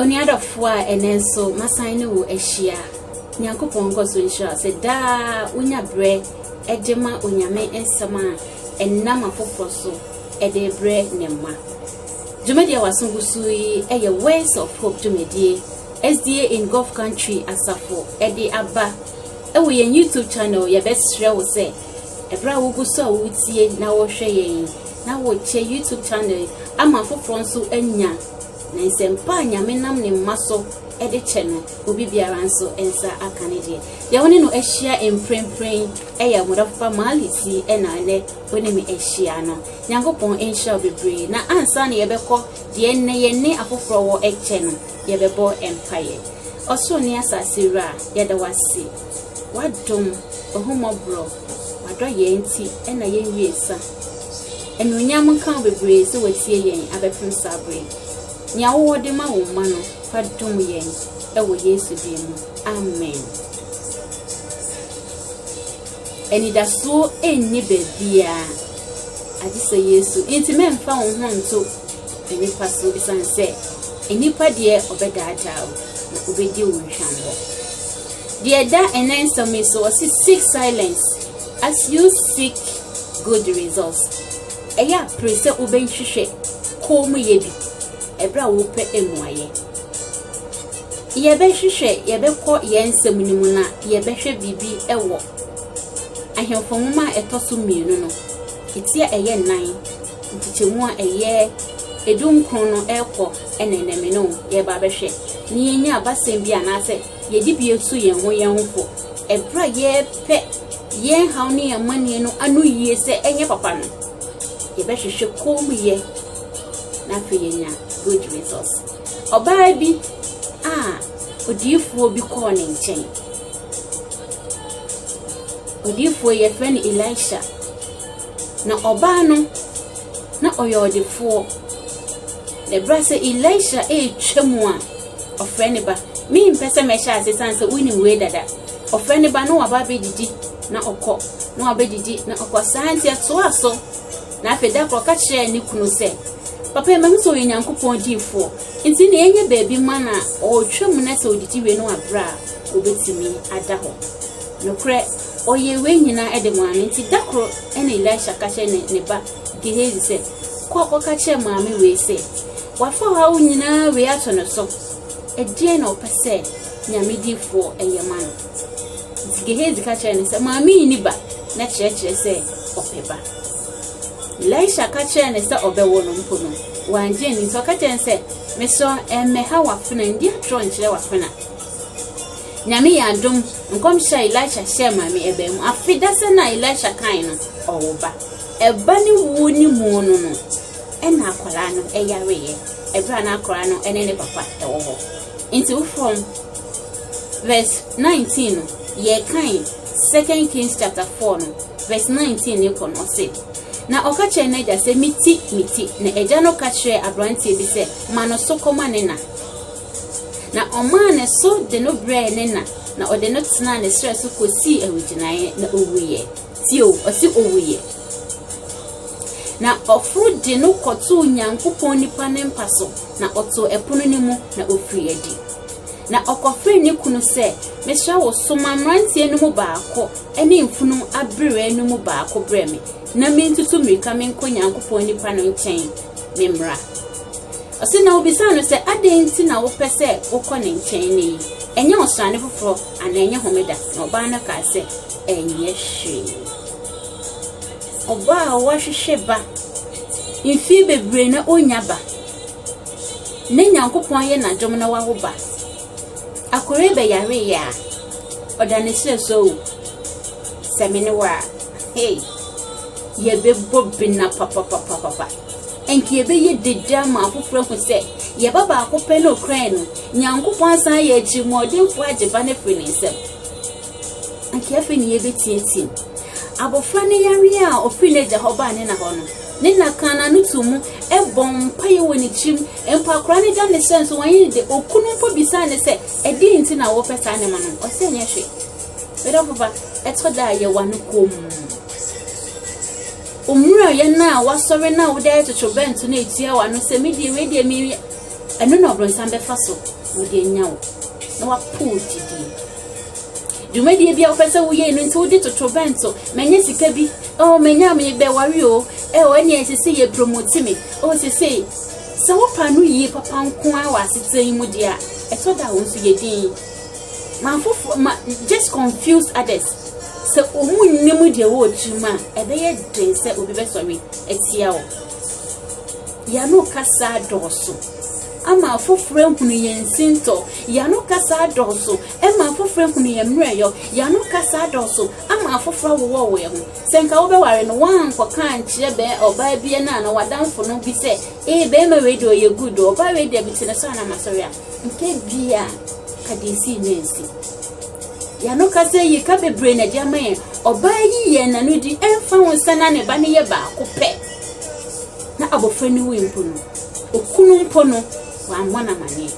Onua dɔfo a ɛnɛ nso masan ne wo ahyia. Nyankopɔn nkɔ so nhyira sɛ daa wonya berɛ de ma Onyame nsɛm a ɛnam afoforɔ so de brɛ ne mma. Dwumadie a waso gu so yi yɛ Words of Hope dwumadie SDA in Gulf Country asafo de aba wɔ yɛn YouTube channel. Yɛbɛsrɛ wo sɛ Ɛberɛ a wogu so a woretie na wɔrehwɛ yɛn yi, na wɔkyɛ YouTube channel yi ama afoforɔ nso anya na nsɛmpa a Nyame nam ne mma so de kyɛ no, obi biara nso nsa aka ne deɛ. Deɛ wo ne no ahyia mprempren ɛyɛ Ɔmodafo Pa Maalisi ɛna ɛnɛ wo ne me ahyia no. Nyankopɔn nhyira wo bebree na ansa na yɛbɛkɔ deɛ ɛnnɛ yɛn ne afoforɔ wɔ ɛkyɛ no, yɛbɛbɔ mpaeɛ. Ɔsoro ne asase Wura, yɛda wo ase. W'adom, w'ahummɔborɔ, w'adɔyɛɛ nti na yɛnwie sa. Anuonyam nka wo bebree sɛ watie yɛn abɛpem saa bere yi. Nea wowɔ de ma wo mma no, fa dom yɛn wɔ Yesu din mu. Amen. Anidasoɔ nni baabiara agye sɛ Yesu. Nti mɛmfa wo ho nto nnipa so ɛsiane sɛ nnipa deɛ ɔbɛdaadaa wo na ɔbɛdi wo nhwammɔ. Deɛ ɛda ɛnnɛ nsɛm yi so, ɔse seek silence as you seek good results. Ɛyɛ a pere sɛ wobɛhwehwɛ koomyɛ bi ɛberɛ a wopɛ mmuaeɛ. Yɛbɛhwehwɛ, yɛbɛkɔ yɛn nsɛm no mu na yɛbɛhwɛ biribi wɔ ahemfo nwoma a ɛtɔ so mmienu no ɛti a ɛyɛ nnan nkyekyɛmu a ɛyɛ edu nkron no ɛrekɔ ɛnɛnɛme no yɛba abɛhwɛ ne yɛnya abasɛm bi anaasɛ Yɛde bi asu yɛn ho yɛn ho fɔ ɛberɛ a yɛrepɛ yɛn haw ne yɛn amanneɛ no ano yie sɛ ɛnyɛ papa no, yɛbɛhwehwɛ kommyɛ na afei yɛnya good results. Ɔbaa bi a odiyifoɔ bi kɔɔ ne nkyɛn. Odiyifoɔ yɛfrɛ no Elisha. Na ɔbaa no na ɔyɛ ɔdefoɔ. Na ɛberɛ sɛ Elisha ɛretwa mu a, Ɔfrɛ ne ba. Mempɛ sɛ mɛhyɛ ase sane sɛ wonim wei dada. Ɔfrɛ ne ba na waba abɛdidi na ɔkɔ, na wabɛdidi na ɔkɔ. Saa nti ɛtoaa so. Na afei da koro ɔka kyerɛɛ ne kunu sɛ, Papa yi mahu sɛ ɔyɛ Nyankopɔn diifoɔ. Nti na yɛnyɛ baabi ma na ɔretwa mu na sɛ ɔdidi wie no abrɛ a ɔbɛtumi ada hɔ. Nokorɛ, ɔyɛ wei nyinaa de maa me. Nti da koro na Elisha ka kyerɛ ne ba Gehazi sɛ, Kɔ kɔka kyerɛ maame wei sɛ, Wafa haw nyinaa wei ato no so. Ɛdeɛn na ɔpɛ sɛ Nyame difoɔ ɛyɛ ma no? Nti Gehazi ka kyerɛ no sɛ, Maame yi ni ba, na kyerɛkyerɛ sɛ ɔpɛ ba. Elisha ka kyerɛ no sɛ ɔbɛwo no mpo no, wangye anni. Nti ɔka kyerɛ no sɛ, Mesrɛ ɛmmɛha w'afena, ndi atorɔ nkyerɛ w'afena. Nyame yɛ adom, nkɔmhyɛ a Elisha hyɛɛ maame ɛbaa mu. Afe dasɛ no a Elisha kae no, ɔwo ba. Ɛba ne wuo ne mu no no, Ɛna akwadaa no yareeɛ ɛberɛ a na akwadaa no ne ne papa wɔ hɔ. Nti wo from verse 19 no yɛkan second kings chapter 4 no verse 19 ne kɔ no ɔse na ɔka kyerɛ n'agya sɛ meti meti na agya no ka kyerɛ aberanteɛ bi sɛ ma no so kɔma ne na na ɔmaa ne so de no brɛɛ ne na na ɔde no tenaa ne serɛ so kɔsii awigyinaeɛ na ɔwuiɛ Tio, ɔse owuiɛ. Na ɔforo de no kɔtoo Nyankopɔn nipa no mpa so, na ɔtoo ɛpono no mu, na ɔfirii adi. Na ɔkɔfrɛɛ ne kunu sɛ, Mesrɛ wo, soma mmeranteɛ no mu baako ne mfunumu abereɛ no mu baako brɛ me, na mentutu mmirika menkɔ Nyankopɔn nipa no nkyɛn memmra. Ɔse, na ɔbisaa no sɛ, Adɛn nti na wopɛ sɛ wokɔ ne nkyɛn nnɛ yi? Ɛnyɛ ɔsrane foforɔ, anaa ɛnyɛ homeda? Na ɔbaa no kaa sɛ, ɛnyɛ hwee. Ɔbaa a wahwehwɛ ba mfie bebree na ɔnya ba. Ne Nyankopɔn ayɛ n'adom na wawo ba. Akɔre bɛyare yɛ a, ɔda ne srɛ so o. Sɛ me ne wo a, hey, yɛbɛbɔ bena papapapapa. Ɛnka yɛbɛyɛ dede ama afoforɔ ahu sɛ yɛba baako pɛ na ɔkura no. Nyankopɔn asan ayɛ atirimuɔdenfoɔ agye ba no afiri ne nsam. Anka afei ne yɛbɛteateam. Abɔfra no yareɛ a ɔfiri n'agya hɔ baa ne na hɔ no, ne na kaa n'ano too mu bɔ mpaeɛ wɔ ne tirim. Mpo akora no da ne sɛ nso wɔnyɛ ne de. Okunu mpo bisaa ne sɛ, ɛdeɛn nti na wopɛ saa nneɛma no? Ɔsɛ nyɛ hwee. Medɔfo ba, ɛtɔ da a yɛwa no komm. Omurayɛ no a wasɔre no a wode ayɛ totorobɛnto no etua w'ano sɛ me deɛ wei deɛ me ɛno na ɔbronsam bɛfa so wode anya wo na wapow gyidie. Dwumadie bi a wopɛ sɛ woyɛ no nti wode toto bɛnto manya sika bi oh manya mebɛware o ɛwɔ ɛne ɛsɛ sɛ yɛ promote me oh sesei sɛ wofa no yie papa nko a wɔ asetena yi mu deɛ a ɛtɔ da wo nso yɛ din ma fofo ma just confuse others sɛ ɔmu nnim deɛ wɔ tirim a ɛbɛyɛ den sɛ obi bɛsɔre atia wo Yɛn ano kasa adɔɔso ama afoforo ahunu yɛn sintɔ. Yɛn ano kasa adɔɔso ma afoforo ahunu yɛn mmerɛyɔ. Yɛn ano kasa adɔɔso ama afoforo awowɔwo yɛn ho. Sɛ nka wobɛware no, woankɔka ankyerɛ bɛn ɔbaa bi anaa na w'adamfo no bi sɛ, ee, bɛrima wei deɛ ɔyɛ good o, ɔbaa wei deɛ mete ne so a na masɔre a, nka bia ka deɛ esii no ansi. Yɛn ano kasa yi ka bebree na ɛde ama yɛn. Ɔbaa yi yɛn n'ano di ɛmfa ho sɛ na ne ba no yɛ baako pɛ. na abɔfra no wui mpo no, okunu mpo no, wammɔ no amanneɛ.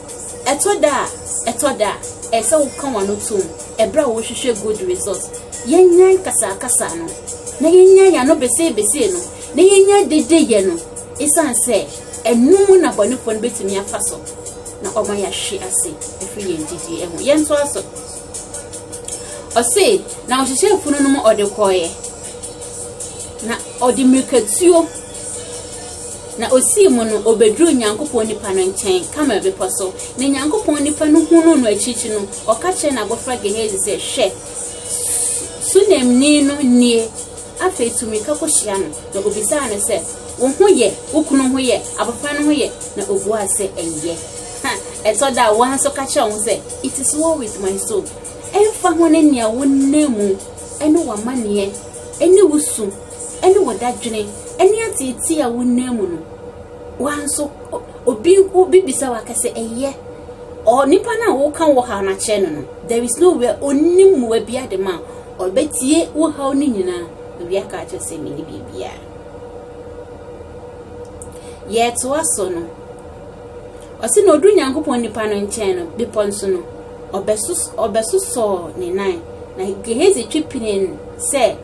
Ɛtɔ da a, ɛtɔ da a, ɛyɛ sɛ woka w'ano tom ɛberɛ a wohwehwɛ good result. Yɛnyae kasaakasa no, na yɛnyae ano beseebesee no, na yɛnyae dedeyɛ no, ɛsiane sɛ ɛno mu na bɔnefoɔ no bɛtumi afa so na ɔma yɛahwe ase ɛfiri yɛn gyidie ho. Yɛntoa so. Ɔse na ɔhyehyɛɛ funu no mu ɔde kɔeɛ. Na ɔde mmirikatuo na ɔsii mu no, ɔbɛduruu Nyankopɔn nipa no nkyɛn, Karmel bepɔ so. Na Nyankopɔn nipa no hunuu no akyirikyiri no, ɔka kyerɛɛ n'abɔfra Gehazi sɛ, Hwɛ, Sunemni no nie. Afei tu mmirika kɔhyia no. Na ɔbisaa no sɛ, Wo ho yɛ? Wo kunu ho yɛ? Abɔfra no ho yɛ? Na ɔbuaa sɛ, Ɛyɛ. Na ɛtɔ da a, wɔn nso ka kyerɛ wo sɛ, It is well with my soul. Ɛmfa ho ne nea wonam mu, ne w'amanneɛ, ne wo su, ne wo dadwene, ne ateetee a wonam mu no, wɔn nso, obi obi bisa wo aka sɛ, ɛyɛ. Onipa no a woka wɔ haw no akyerɛ no no, there is no where onim mmoa bi ade ma ɔbɛtie wo haw no nyinaa. Obi aka akyerɛ sɛ, menni biribiara. Yɛtoa so no. Ɔse na ɔduru Nyankopɔn nipa no nkyɛn no, bepɔ nso no, ɔbɛsosɔɔ ne nan, na Gehazi twe pini no sɛ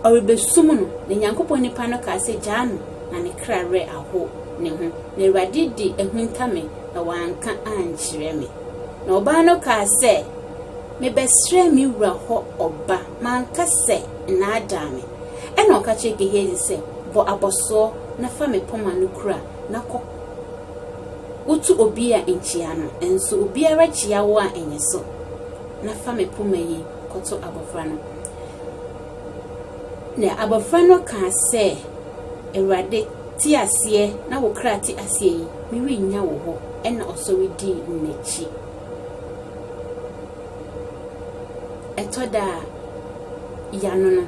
ɔrebɛsum no, na Nyankopɔn nipa no kaa sɛ, Gyaa no, na ne kra werɛ aho ne ho, na Awurade de ahunta me, na wanka ankyerɛ me. Na ɔbaa no kaa sɛ, Mebɛsrɛɛ me wura hɔ ɔba, manka sɛ, Nnaadaa me. Ɛna ɔka kyerɛɛ Gehazi sɛ, Bɔ abɔsoɔ na fa me poma no kura. na kɔ. Wotu obi a nkyia no, nso obiara kyia wo a nyɛ so, na fa me poma yi kɔto abɔfra no. Na abɔfra no kaa sɛ, Awurade, te aseɛ na wo kra te aseɛ yi, merennya wo hɔ. Ɛna ɔsɔre dii n'akyi. Ɛtɔ da a, yɛano no,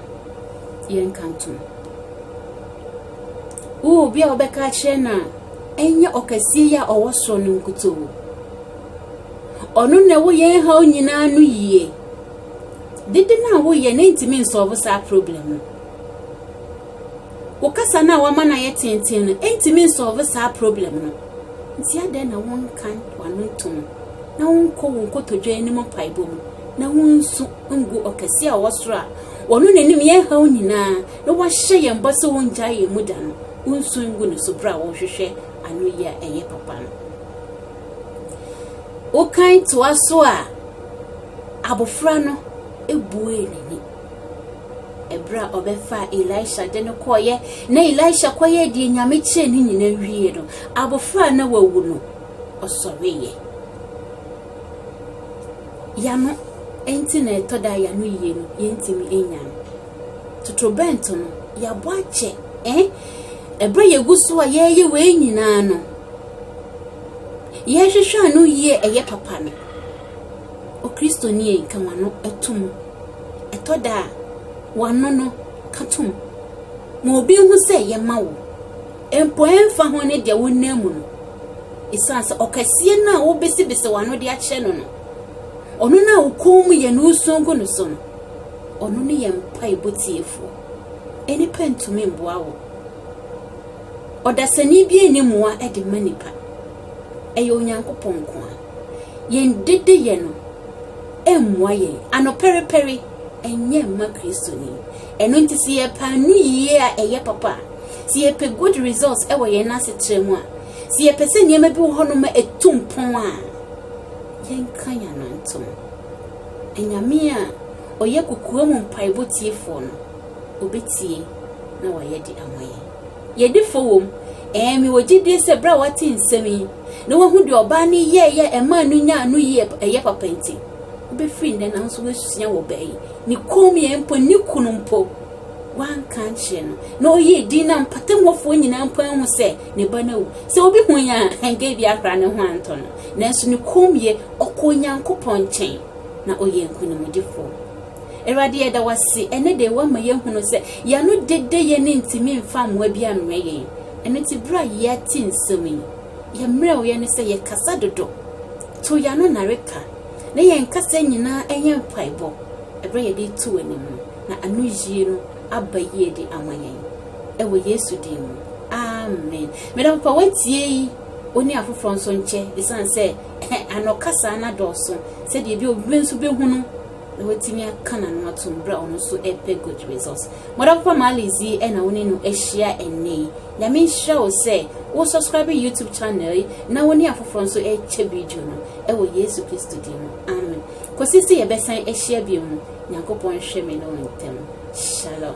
yɛnka ntom. Wowɔ obi a wobɛka akyerɛ no a, ɛnyɛ ɔkɛseɛ yi a ɔwɔ soro no nkutoo. Ɔno na ɛwɔ yɛn haw nyinaa no yie. Dede no a woyɛ no ntumi nsɔɔbo saa problem no. Wo kasa no a wama no ayɛ tenten no ntumi nsɔɔbo saa problem no. Nti adɛn na wonka w'ano ntom na wonkɔ wo nkotodwe anim mpaebɔ mu na wonsu ngu ɔkɛseɛ a ɔwɔ soro a ɔno n'anim yɛn haw nyinaa na wahyɛ yɛn bɔ sɛ ɔrennyae yɛn mu da no, wonsu ngu ne so bere a wɔrehwehwɛ anoyi a ɛyɛ papa no. Wokan toa so a, abofra no ebuee n'ani ɛberɛ a ɔbɛfaa elisha de no kɔeɛ na elisha kɔyɛɛ deɛ nyame kyɛɛ ne nyina wie no abɔfra a na wawu no ɔsɔreeɛ yano ɛnti na ɛtɔ da yano yie no yɛntumi nya no Totorobɛnto no, yɛabɔ akyɛ. Eh? Ɛberɛ yɛgu so a yɛreyɛ wei nyinaa no, yɛhwehwɛ ano yie ɛyɛ papa no. Okristoni ei, ka wano to mu. Ɛtɔ da a, wano no ka to mu. Ma obi nhu sɛ yɛma wo. Mpo ɛmfa ho ne deɛ wonam mu no. Ɛsiane sɛ ɔkɛseɛ no a wobesibesi wano de akyerɛ no no, ɔno no a wo kɔn mu yɛ no wosuo gu no so no, Ɔno ne yɛn mpaebɔ Tiefoɔ. Nnipa ntumi mboa wo. Ɔdasani biara nni mmoa de mma nnipa. Ɛyɛ Onyankopɔn nko ara. Yɛn dedeyɛ no mmoa yɛn. Anɔpɛrepɛre nyɛ mma Kristoni. Ɛno nti sɛ yɛpɛ anoyie a ɛyɛ papa a, sɛ yɛpɛ good results wɔ yɛn asetra mu a, sɛ yɛpɛ sɛ nneɛma bi wɔ hɔnom a ɛtu mpɔn a, yɛnka yɛn ano ntom. Anyame a ɔyɛ kokoam mpaebɔ tiefoɔ no, ɔbɛtie na wayɛ de ama yɛn. Yɛdi fɔ wom? Ɛɛ, mewɔ gyedie sɛ berɛ a woate nsɛm yi na woahu deɛ ɔbaa no yɛeɛ a ɛmaa no nyaa ano yie a ɛyɛ papa nti, wobɛfiri nnɛ na wo nso woasua wɔ ɔbaa yi ne kommyɛ mpo ne ne kunu mpo wanka ankyerɛ no na ɔyɛɛ din no a mpɔtam hɔfoɔ nyinaa mpo ahu sɛ ne ba no awu. Sɛ obi hu yɛn a, anka ebi akora ne ho antɔ no, nanso ne kommyɛ Ɔkɔ Onyankopɔn nkyɛn, na ɔyɛ nkonimdifoɔ. Awurade, yɛda wo ase ɛnnɛ da yi, woama yɛahunu sɛ yɛn ano dede, yɛn ani ntumi mfa mmoa bi ammrɛ yɛn. Ɛno nti, berɛ a yɛate nsɛm yi, yɛn mmerɛwyɛ ne sɛ yɛkasa dodo, to yɛn ano nnareka, na yɛn kasa nyinaa yɛ mpaebɔ berɛ a yɛde reto w'anim no, na anoyie no aba yie de ama yɛn. Ɛwɔ Yesu din mu, amen. Me dɔfo, fa w'atiei wo ne afoforɔ nso nkyɛ, ɛsiane sɛ. Ka ano kasa no adɔɔso sɛdeɛ ebia obi bi nso bɛhu no na watumi aka n'ano atom berɛ a ɔno nso ɛpɛ good results. Mɔda papa Marlies yi ɛna wo ne no ahyia ɛnnɛ yi. Nyame nhyira wo sɛ wo subscribe YouTube channel yi na wo ne afoforɔ nso ɛkyɛ video no ɛwɔ Yesu Kristo din mu. Amen. Kɔsi sɛ yɛbɛsan ahyia bio no, Nyankopɔn nhwɛ me ne wo ntɛm. Shalom.